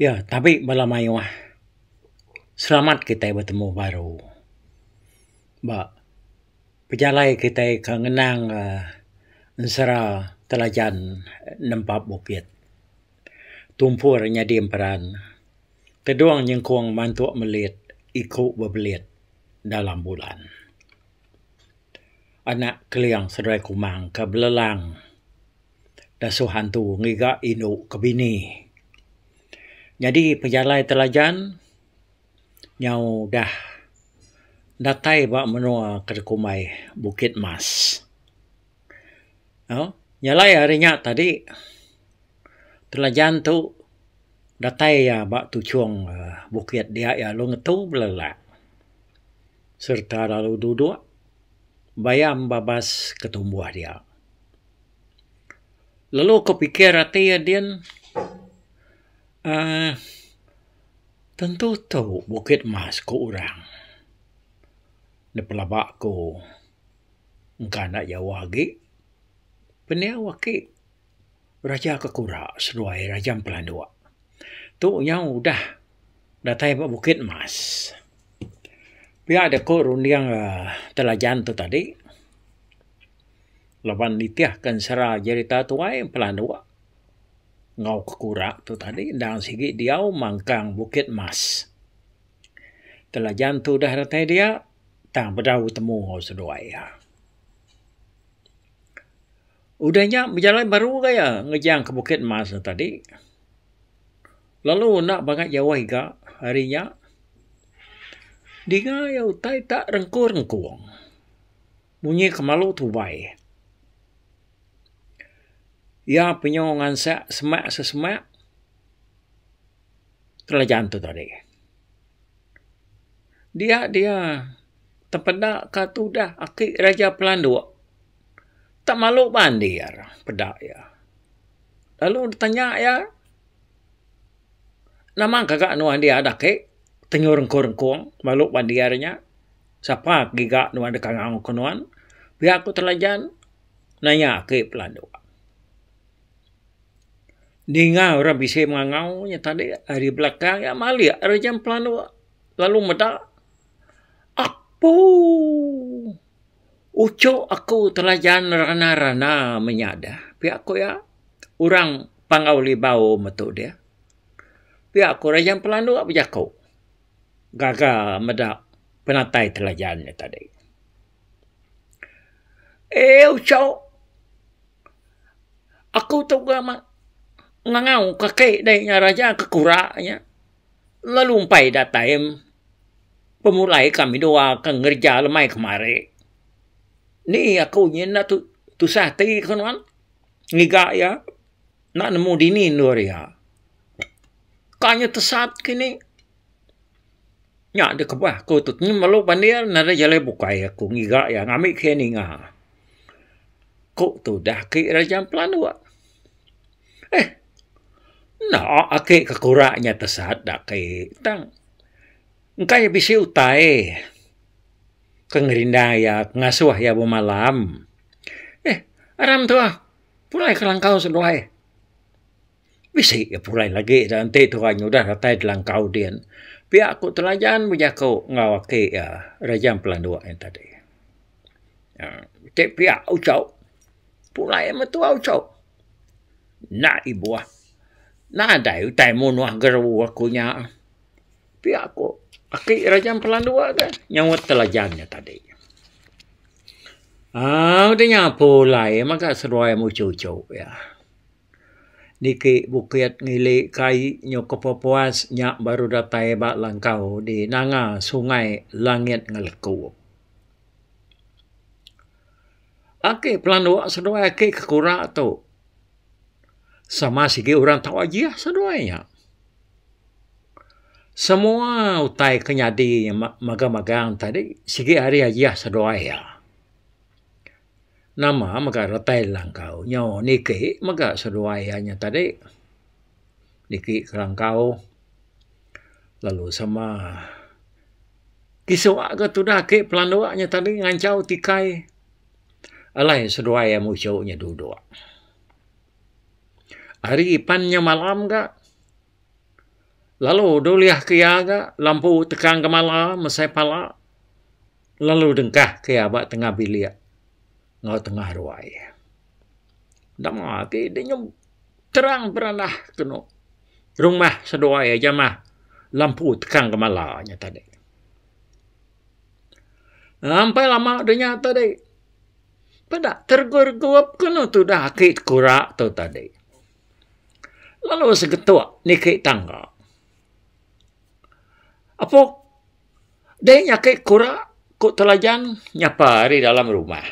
Ya, tabi bala mayuh selamat kitai betemu baru. Ba pejalai kitai ke ngenang uhh ensera telajan nempa bukit. Tumpur nyadi emperan. Tedong nyengkong mantu melit iku bebelit dalam bulan. Anak Keliang Seduai Kumang ke belelang. dasuh antu ngiga indu ke bini. Nyadi pejalai telajan nyau udah datai ba menua ke dikumbai Bukit Mas. Au, nyalai ari nya tadi telajan tu datai iya ba tuchung aaa bukit dia iya lalu ngetu belelak sereta lalu duduk bayam babas ke tumbuh dia. lalu ku pikir ati iya din uhh tentu tu bukit mas ku orang da pelaba ku engka enda Jawa agi pendiau aki raja ke kura seduai raja empu landok tu nyau udah datai ba bukit mas pia da ku runding uhh telajan tu tadi. laban nitihka ensera jerita tuai pelanduk enggau kekura tu tadi endang sigi diau mangkang Bukit Mas. Telajan tu udah datai dia tang bedau betemu enggau seduai iya. Udah nya bejalai baru ga iya ngejang ke Bukit Mas tu tadi lalu enda bangah jauh iga hari nya dinga iya utai tak rengkung-rengkung. Munyi kemalu tubai. Iya penyu ngansak semak sesemak kerajaan tu tadi. Dia dia tepeda ka tudah aki Raja Pelanduk tak malu bandi iya re peda iya. Lalu tanya iya nama gaga nuan dia dak aki tenyu rengkong-rengkong malu bandi iya re nya. sapa giga nuan deka ngau ke nuan pia ku telajan naya ake pelandu ninga orang bisi mengangau nya tadi ari belakang iya malik ari jam pelandu lalu meda apu ucok aku telajan rana rana menya da pia ku iya orang pangau libau metu dia pia ku orang jam pelandu bejaku gaga meda penatai telajan nya tadi. Euu chau aku tu ga ma ngangau ka kai dei nya raja ke kura nya lalu umpai datai pemulai ka midua ka ngereja lemai kemari. Ni aku nyi enda tu tusah ati ku nuan ngiga iya enda nemu dini endur iya. Ka nya tesat kini. Nya deh kebah ku tu nyi melu bandir ne re jalai bukai aku ngiga iya ngambi ke iya ninga. Ku tudah ke re ja pelanduk. Eh enda ake ke kura nya tesat da kai tang engka iya bisi utai ke ngerinda iya ke ngasuh iya bemalam. Eh aram tu ah pulai ke langkau seduai. Bisi ga pulai lagi da enti tu orang nyudah datai langkau din. Pia ku telajan bejaku enggau aki iya Rejang Pelandu nya tadi uhh ti pia uchok pulai metua uchup enda ibuh nadai utai munuh geru aku nya pia ku aki Rejang Pelandu ga nyauut telajan nya tadi uhh udah nya pulai mega seduai muchup-uchup iya. niki bukit ngili kai nyau ke pepuas nya baru datai ba langkau di nanga sungai langit ngeleku. Ake pelandok seduai ake ke kura tu sama sigi orang tau ajih seduai nya. Semua utai ke nyadi magang-magang tadi sigi hari ajih seduai iya. Nama mega retai langkau nyau niki mega seduai iya nya tadi niki kelangkau lalu sama kisua ga tudah ake pelandok nya tadi ngancau tikai alai seduai iya musu nya dudok. Ari pan nya malam ga lalu dulih ke iya ga lampu tekan ngemala mesai pala. lalu dengkah ke iya ba tengah bilik enggau tengah ruai. Dema agi deh nyau terang beranah ke eno rumah seduai aja mah lampu tekan ngemala nya tadi. Am pia lama deh nya tadi peda tergup-gup ke eno tudah aki kura tu tadi. Lalu segetok niki tangga. Apo. Deh nya ake kura ku telajan nyapa ari dalam rumah.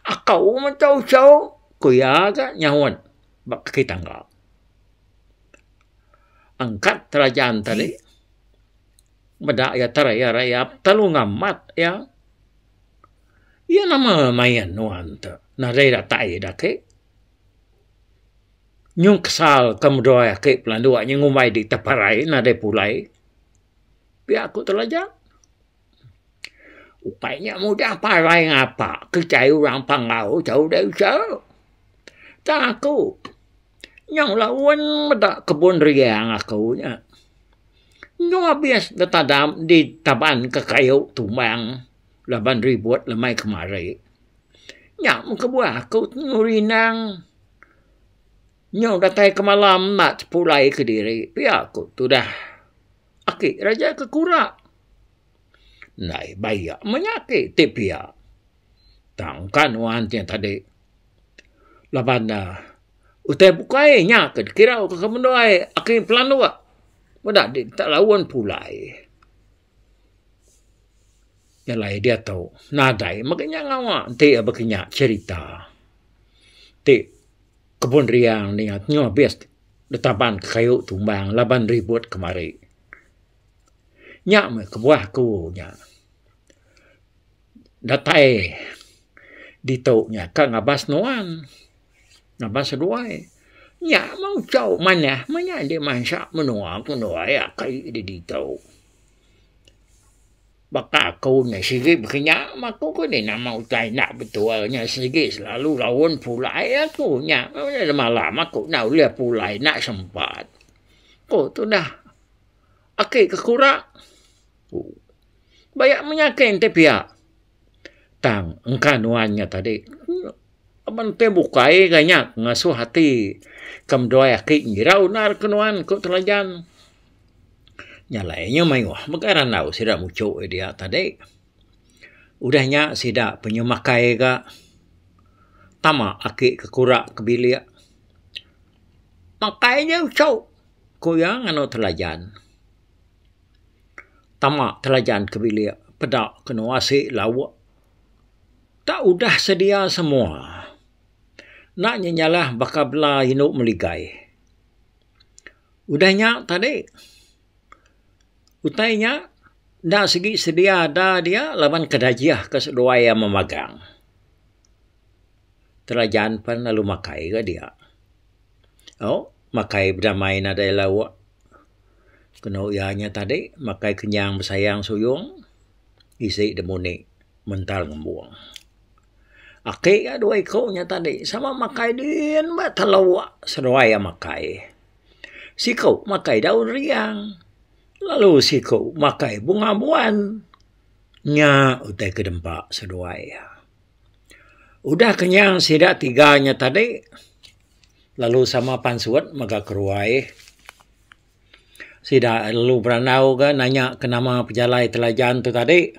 Aku menta uchu ku iya ga nyaut ba kaki tangga. Angkat telajan tadi meda iya terayap rayap telalu ngamat iya. Iya nama main nuan tu nadai ira tai da ake. Nyungkasal ke medai ake pelanduk ngumbai dita parai nadai pulai. pia ku telaja. Ukai nya mudah parai ngapa ke chai orang Panggau chau dai usa. Tang aku nyau laun meda kebun riang aku nya. Endo abis ditadam ditaban ka kayu tumbang laban ribut lemai kemari. Nya mung kebuah aku temu rindang. Nyau datai ke malam enda tepulai kediri pia ku tudah aki raja ke kura. Ndai bai iya menya aki ti pia. Tang ka nuan ti tadi. Laban ne utai bukai nya ke dikirau ke kemendai aki pelanduk. Meda di tak laun pulai. Jalai diatu nadai mega nya ngawa enti baka nya cerita ti kebun riang ninga nyau habis ditaban ka kayu tumbang laban ribut kemari. Nya meh kebuah ku nya. datai ditu nya ka ngabas nuan ngabas seduai nya mah uchau manah mah nya indi mansa menua ke menua iya kai di ditu. Baka aku ne sigi baka nya mah aku ke ni nama utai enda betul nya sigi selalu gaun pulai aku nya semalam aku enda ulih pulai enda sempat. Ko tu nah. Aki ke kura. Baya menyakeng ti pia. Tang engka nuan nya tadi. Aban ti bukai ga nya ngasuh ati ke meduai aki ngira unar ke nuan ku Telajan. Nya alai inya mayuh mega randau sida muchuk iya dia tadi. Udah nya sida pe inya makai ga tama aki ke kura ke bilik. Makai ja uchuk. Ku iya nganu telajan. Tama telajan ke bilik peda kenu asi lauk. Tak udah sedia semua. Enda nyi nyalah baka bela indu meligai. Udah nya tadi utai nya enda sigi sedia ada dia laban ke dajih ke seduai iya memagang. Telajan pen lalu makai ga dia. Au. makai bedamai nadai lauk kenu iya nya tadi makai kenyang besayang suyung isi da muni mental ngembung. Ake ka dua iku nya tadi sama makai din ba telu seduai iya makai. Siku makai daun riang lalu siku makai bunga buan. Nya utai ke dempa seduai iya. Udah kenyang sida tiga nya tadi. lalu sama pan suwat mega ke ruai sida lalu berandau ga nanya ke nama pejalai Telajan tu tadi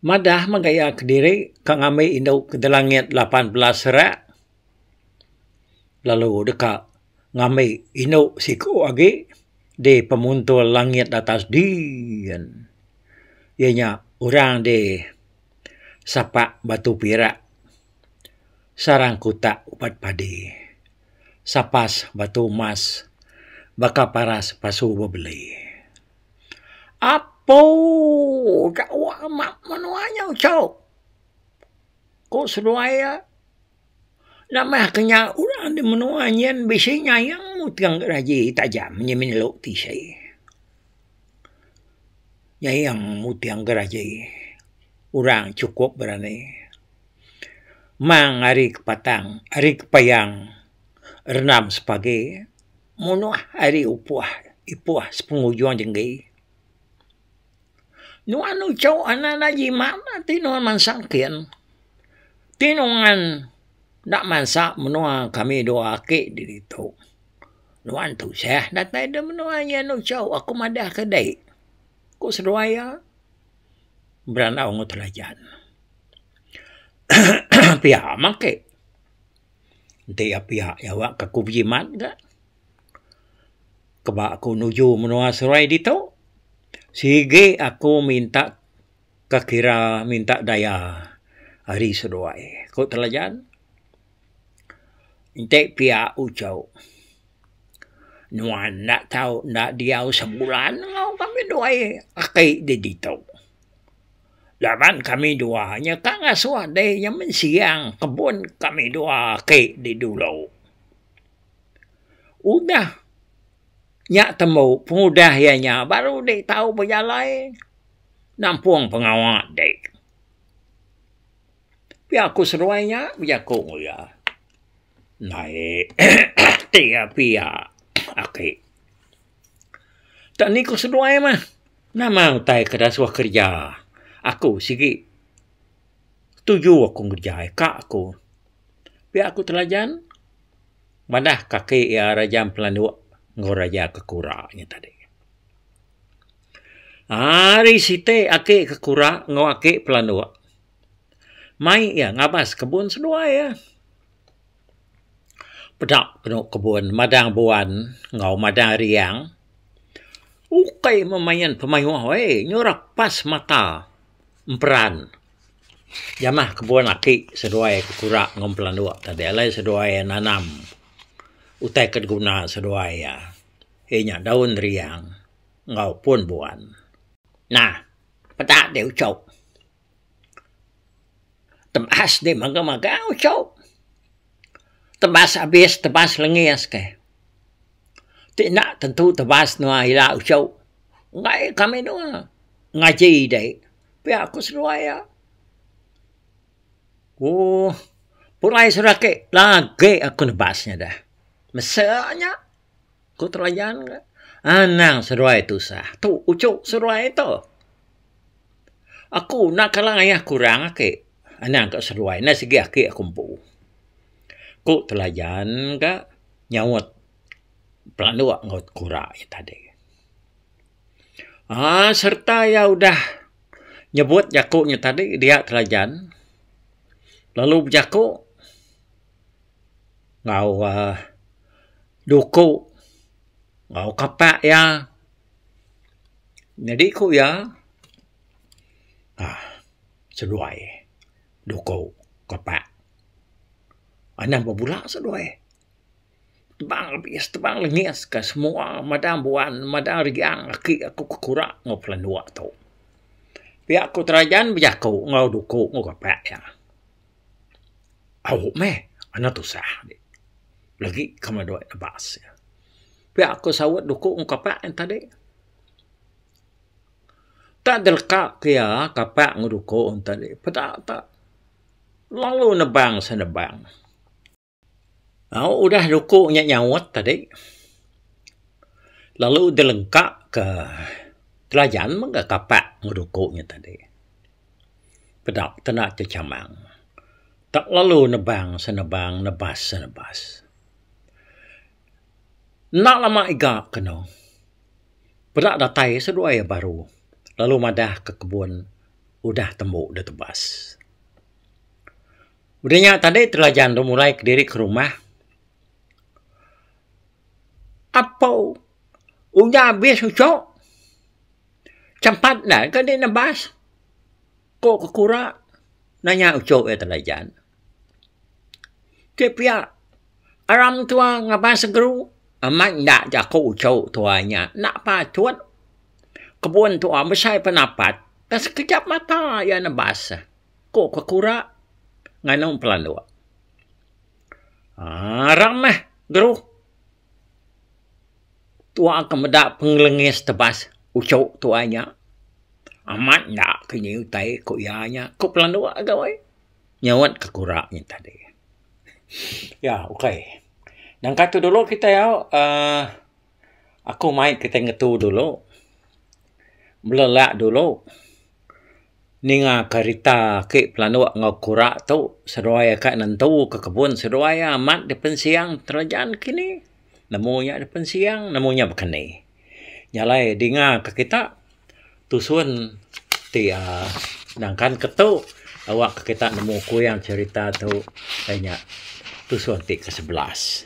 madah mega iya kediri ke ngambi indu Kedalangit lapan belas rak lalu deka ngambi indu siku agi di pemuntul langit atas diin iya nya orang di sapa batu pira sarang kuta ubat padi sapas batu mas baka paras pasu bebeli apouu ga amak menua nyau chau ku seduai iya. Nambah ke nya orang di menua nyin bisi nyayang mutong ke raji tajam nyi nyelok tisi. Nyayang mutong ke raji orang chukup berani mang ari ke patang ari ke payang rendam sepagi menuh ari upuh ipuh sepengujung jenggi. Nuan uchu anak enda jimat bah ti nuan mansa kin. Ti nuan enda mansa menua kami dua aki di ditu. Nuan tusah datai da menua iya enda uchu aku madah ke dei. Ku seduai iya berandau enggau telajan. pia mah ake. Enti iya pia iya awak aku bejimat ga. keba aku nuju menua Seruai ditu sigi aku minta ke kira minta daya ari seduai ku Telajan enti pia ujo nuan enda tau enda diau sebulan enggau kami dua aki di ditu laban kami dua nyeka ngasuh dei nyemen siang kebun kami dua aki di dulu. Udah nya tembu pengudah iya nya baru deh tau bejalai nampung pengawa deh. Pia ku seduai nya bejaku enggau iya. Naih ti iya pia aki. Tak ni ku seduai mah nama utai ke dah suah kerja. Aku sigi tuju aku ngerejai ka aku. Pia ku telajan. madah kaki iya Raja Empelanduk enggau Raja Kekura nya tadi. Ari siti aki Kekura enggau aki Pelanduk mai iya ngabas kebun seduai iya. Peda penu kebun madang buan enggau madang riang. Ukai meh main pemayuh weh, nyurak pas mata. emperan jamah kebun aki seduai ke kura enggau pelandok tadi alai seduai iya nanam utai ke diguna seduai iya iya nya daun riang enggau pun buan nah peda deh ucok tebas deh magang magang ucok tebas abis tebas lengis keh. ti enda tentu tebal senua ila uchu enggai ka menua ngaji dei pia ku seduai iya ooh pulai sida ake lagi aku nebas nya deh mese nya ku telajan ke anang seduai tusah tu uchu seduai tu aku enda kala ngayah kurang ake anang ka seduai enda segi ake aku empu ku telajan ka nyaut pelanduk enggau kura iya tadi. Aaa sereta iya udah nyebut jaku iya tadi dia Kelajan lalu bejaku enggau aaa duku enggau kapa iya. Nyadi ku iya aaa seduai duku kapa. Anang ba bula seduai. Tebang abis tebang lengis ka semua madang buan madang riang aki aku ke kura enggau bala anok tu. Pia ku terajan bejaku enggau duku enggau bapa iya. Au meh anak tusah di legi ke meh dua nebak se. Pia ku saut duku enggau kapa en tadi. Tak deleka ke iya kapa enggau duku en tadi peda tak. Long lu nebang senebang. Au udah ruku nya nyaut tadi lalu deh lengka ke telajan mega kapa ngeruku nya tadi. Peda kena ti chamang. Tak lalu nebang senebang nebas senebas. Enda lama iga keno, peda datai seduai iya baru lalu madah ke kebun udah tembu da tebas. Udah nya tadi Telajan tu mulai kediri ke rumah. Apo udah abis uchu? Champat enda ke di nebas? Ko ke kura nanya uchu iya tau jan. Ti pia aram tua ngaban segru amat enda jaku uchu tua nya enda patut kebun tua besai penapat dak sekejap mata iya nebas ko ke kura nganu pelandok. Aram meh geruh. Tu'a ke meda pengelengis tebas uchu tu'a nya. Amat enda ke nyi utai ku iya nya. Ku Pelandu agau ai. Nyau'at ke kura nyi tadi. Ya, ukai. Nangka tu dulu kitai au uhh aku mai kitai ngetu dulu. Belelak dulu. ninga kerita aki pelanduk enggau kura tu seduai ka nentu ke kebun seduai ia amat di pensiang terejan kini nemu ia di pensiang nemu ia bekeni jalai dinga ke kita tusun ti um nangkan ke tu awak ke kita nemu kuyang cherita tu nya tusun ti ke sebelas.